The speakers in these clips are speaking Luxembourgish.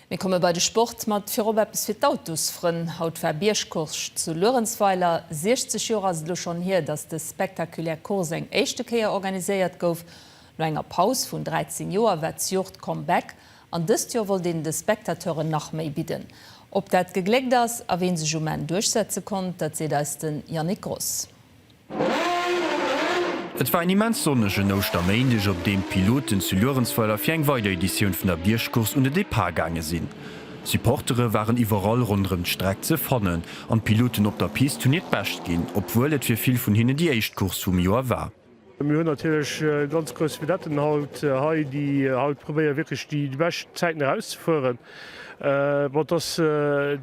Mir komme bei de Sport mat virop eppes fir d'Autosfrënn. Haut war Biergcourse zu Luerenzweiler. 60 Joer ass et elo schonn hier, datt dës spektakulär Course eng éischte Kéier organiséiert gouf. No enger Paus vun 13 Joer war d'Jor d'Comeback an dëst Joer wollt een de Spectateuren nach méi bidden. Ob dat gegléckt ass a ween sech um Enn duerchsetze konnt, dat seet eis de Yannick Gross. Et war en immens sonnegen Ouschterméindeg, op deem d'Piloten zu Luerenzweiler fir eng weider Editioun vun der Biergcourse un de Depart gaange sinn. Supportere waren iwwerall ronderëm d'Streck ze fannen an d'Piloten op der Pist hunn hiert Bescht ginn, obwuel et fir vill vun hinnen déi éischt Course vum Joer war. Mir hunn natierlech ganz grouss Vedetten haut hei, déi haut probéiere wierklech déi bescht Zäiten erauszefueren. Bon, et ass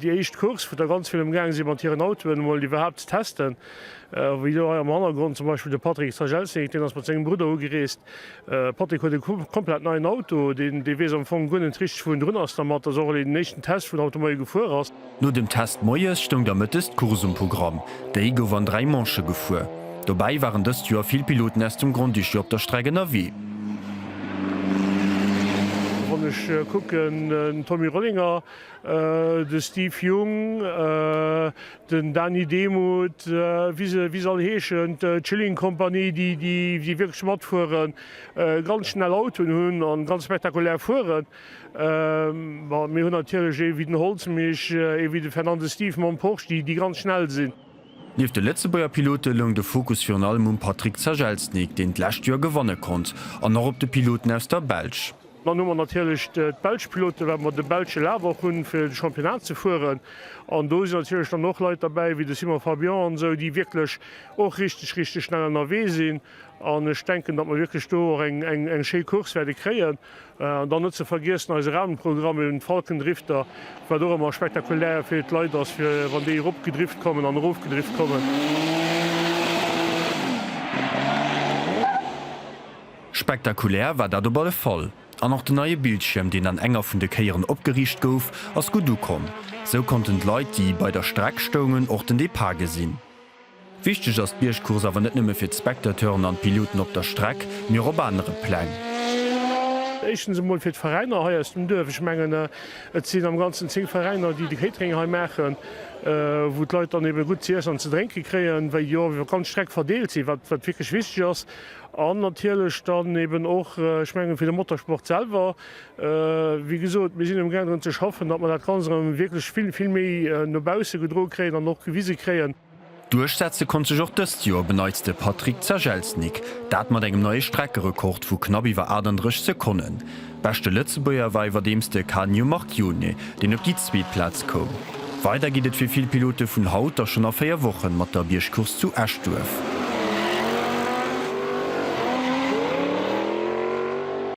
déi éischt Course, wou da ganz vill ëmgaange si mat hiren Autoen emol déi iwwerhaapt ze testen. Wéi elo hei am Hannergrond zum Beispill de Patrick Strajelznyk, deen ass mat sengem Brudder ugereest. Patrick huet e komplett neien Auto, deen, dee weess am Fong guer net richteg wou en drun ass dermat. Dat ass och eleng den éischten Test, wou en Auto mat him gefuer ass. No dem Test moies stoung da mëttes d'Course um Programm. Déi gouf an dräi Manche gefuer. Dobäi waren dëst Joer vill Piloten aus dem Grand-Duché op der Streck ënnerwee. Wann ech kucken, den Tommy Rollinger, de Steve Jung, den Dany Demuth, wéi se wéi se all heeschen, d'Chilling Company, déi wierklech matfueren, ganz schnell Autoen hunn a ganz spektakulär fueren. Bon, mir hunn natierlech ee wéi den Holzmich, ee wéi de Fernandes Steve mam Porsche, déi ganz schnell sinn. Nieft de Lëtzebuerger Pilote loung de Fokus virun allem um Patryk Zagelsnyk, deen d'lescht Joer gewanne konnt, an och op de Piloten aus der Belsch. Dann hu mer natierlech d'belsch Piloten, well mer de belsche Laf och hunn, fir de Championnat ze fueren. An do sinn natierlech dann och Leit derbäi wéi de Simon Fabian an esou, déi wierklech och richteg, richteg schnell ënnerwee sinn. An ech denken, datt mer wierklech do och eng schéi Course wäerte kréien. An dann net ze vergiessen eise Rahmenprogramm, eben d'Falkendrifter, wat och ëmmer spektakulär fir d'Leit ass, fir wann déi eropgedrift kommen an erofgedrift kommen. Spektakulär war dat op alle Fall. An och den neie Bildschierm, deen an enger vun de Kéieren opgeriicht gouf, ass gutt ukomm. Sou konnten d'Leit, déi bei der Streck stoungen, och den Depart gesinn. Wichteg ass d'Biergcourse awer net nëmme fir d'Spectateuren an d'Piloten op der Streck, mee och op anere Pläng. Éischtens emol fir d'Veräiner hei aus dem Duerf. Ech mengen, et sinn am Ganzen zéng Veräiner, déi de Catering hei maachen, wou d'Leit dann eebe gutt ze iessen an ze drénke kréien, wéi jo iwwer d'ganz Streck verdeelt sinn, wat wierklech wichteg ass. An natierlech dann eeben och, ech mengen, fir de Motorsport selwer, Wéi gesot, mir sinn emgaang drun ze schaffen, datt mer dat Ganzt erëm wierklech vill, vill méi no bausse gedro kréien an och gewise kréien. Duerchsetze konnt sech och dëst Joer op en Neits de Patrik Zagelsnik, dat mat engem neie Streckerekord vu knapp iwwer 38 Sekonnen. Beschte Lëtzebuerger war iwwerdeems de Canio Marchione, deen op déi zweet Plaz koum. Weider geet et fir vill Pilote vun haut a schonn a véier Wochen mat der Biergcourse zu Eschduerf.